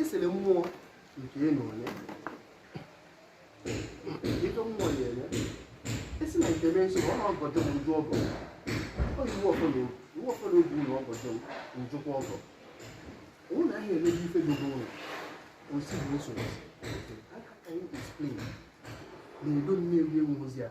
esere mmụọ nke ị na onye ịjọ mmụọ ya enye esi na nke mee nsogbu ọ na-agọdọ m njụ ọgọ ọ yi iwe ọfọdụ iwe ọfọdụ oge ụlọ ọgọdọ m njụkwa ọgọ ụmụ na ahịa eleghị ife dogo ụlọ osi bụ nsogbu how can you explain na edo nne ewu ewu ozi a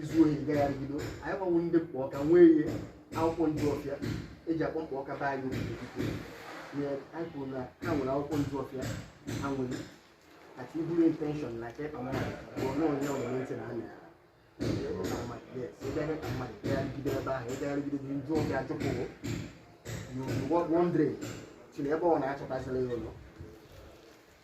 izu ohi gagharịgido anyị gbanwe ndị mkpa ọka nwee ihe akwụkwọ nju ọfịa eji akpọ mkpa ọka be anyị nye anyị kwuru na ha nwere akwụkwọ nju ọfịa ha nwere ati iburu intention na ka ịkpa mmadụ bụ na onye ọbụla ntị na anya ịbịa ka mmadụ ịgagharịgide ebe ahụ ịgagharịgide gị nju ọfịa chụpụrụ you wandering chiri ebe ọ na-achọtazila ya ụlọ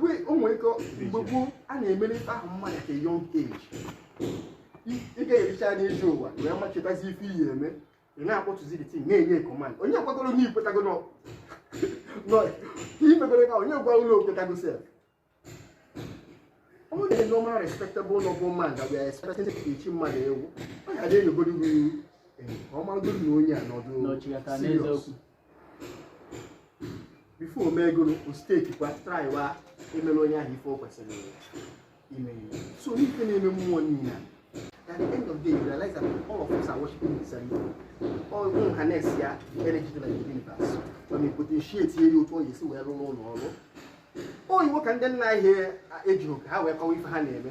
wee o nwere ike mgbe gboo a na-emere ife ahụ mmadụ ka young age ị ga-ericha anya ije ụwa wee machetazi ife ị ya-eme ị na-akpọtụzi the thing na-enye command onye kwagoro na ikwetago nọ imegoro ka onye gwa ụlọ okwetago sef ọ dị normal respectable noble man that we are expecting to teach mmadụ ewu ọ ga-adị enyegoro gị ọmarụgoro na onye a nọdụ N'ọchịghata serious n'eziokwu. before o megoro osteki kwa traiwa emere onye ahụ ife o kwesịrị ime so n'ife na-eme mmụọ niile at the end of the day you realize that all of us are worshiping the same thing all ọ bụ harness ya energy dị na the universe ma ma potentiate ya otu ọ ga-esi wee rụọ ọrụ oyibo ka ndị nna anyị ejighị ka ha wee kọwa ife ha na-eme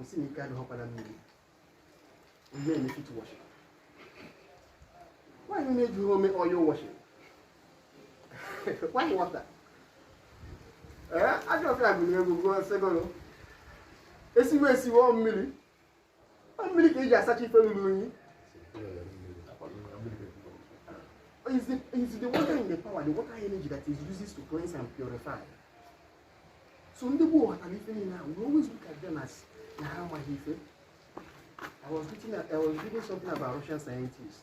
asị na ike adịghọkwa na mmiri ihe eme feet washing why na ejighị eme oil washing why water ee ajọ ọkara gụrụ egwu gụọ sị egoro esiwe esiwe ọ mmiri Ọ mmiri ka eji asacha ife ruru unyi. Is the, is the water in the power, the water energy that is used to cleanse and purify. So ndị gboo ghọtara ife niile ahụ, we always look at them as na ha amaghị ife. I was reading, I was reading something about Russian scientists.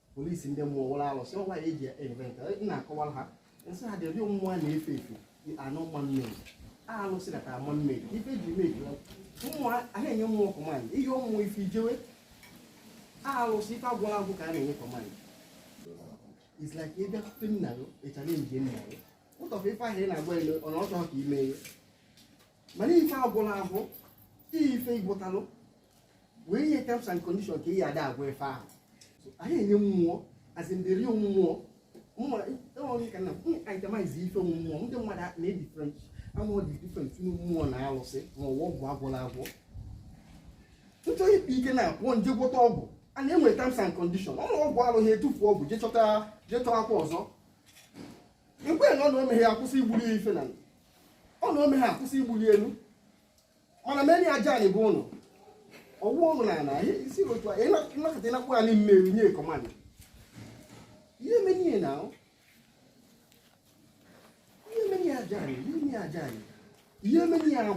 police ndị mmụọ wụrụ alụsị ọgwa ya eji eme nke ị na-akọwara ha nsị ha dị ụdị mmụọ a na-efe efe dị anụ mma mmiri a alụsị na ka ama mmiri ife eji eme eji mmụọ a a na-enye mmụọ command ihe ọmụmụ ife ijewe a alụsị ife agwọlụ agwọ ka a na-enye command it's like ebe akwụkwọ nna gị ịchara nje nna gị ụtọfụ ife ahụ ị na-agwa ele ọ na ọ chọghị ka ime ihe mana ife agwọlụ agwọ ife igbotalụ wee nye terms and condition ka ị ya ada agwa ife ahụ anyị enye mmụọ as in the real mmụọ enweghị ka na itemize ife mmụọ ndị mmadụ na-ebi different mmụọ dị different tinu mmụọ na alụsị ma ọ wụ ọgwụ agwọla agwọ ị chọọ ịkpa ike na pụọ jee gwọta ọgwụ a na-enwe terms and condition ọ na ọgwụ alụghị etufuo ọgwụ jee chọta jee chọọ akwa ọzọ ekwe na ọ na omeghe akwụsị igbuli ya ife na ọ na omeghe akwụsị igbuli elu mana meni aja anyị bụ ụnụ ọwụ ụnụ na ana isi otu a ị na-akọta ị na-akpọ anyị mmeri nye command ihe meni ya na ahụ ihe meni ya aja anyị ihe meni ya aja anyị ihe meni ya bụ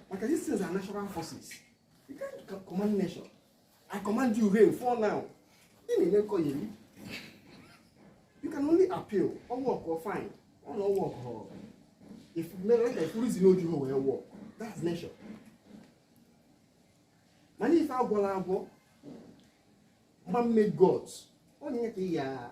maka this is a natural forces you can't command nature I command you rain fall now. Ị na-eme nkọyeri. You can only appeal. Ọ workọọ fine. Ọ na ọ work or ife mere like ife reason no ju wee work. That's nature. Mana ife agwọla agwọ man made gods. Onye ka ị ya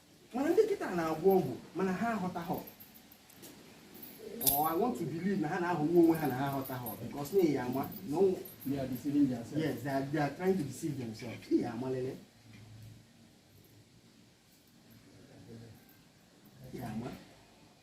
mana ndị kịta na-agwọ ọgwụ mana ha aghọtaghọ or I want to believe na ha na-aghọgbu onwe ha na ha aghọtaghọ because na ya ama na ọnwụ They are deceiving themselves. yes they are, they are trying to deceive themselves ihe amalele ihe ama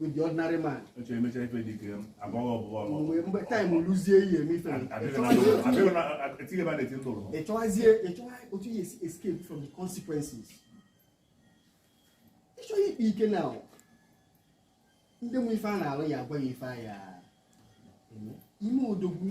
with the ordinary man. Oche emecha ife dị ike agbaghị ọbụbọ ọnụ. Mgbe mgbe time luzie ihe eme ife. Etinye ba na-eti ndụrụ. Ịchọwazie ịchọwa otu ị ya-esi escape from the consequences. Ịchọ ya ịkpa ike na ndị mụ ife a na-alụ ya agwa ya ife a ya ime odogwu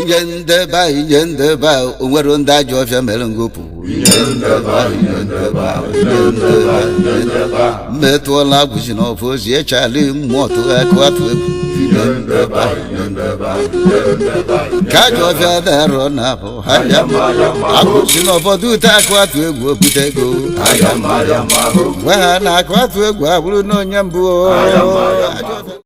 ije ndeba ije ndeba onwere ndị ajọ ọfịa mere ngopụ mmetụọla agwụzi na ọfọ ozi echali mmụọ tụrụ akụatụegwu ka ajọ ọfịa darọ na abụ ha ya agwụzi na ọfọ dute akụatụegwu obute ego gwa ha na akụatụegwu abụrụ na onye mbụ ajọ ọfịa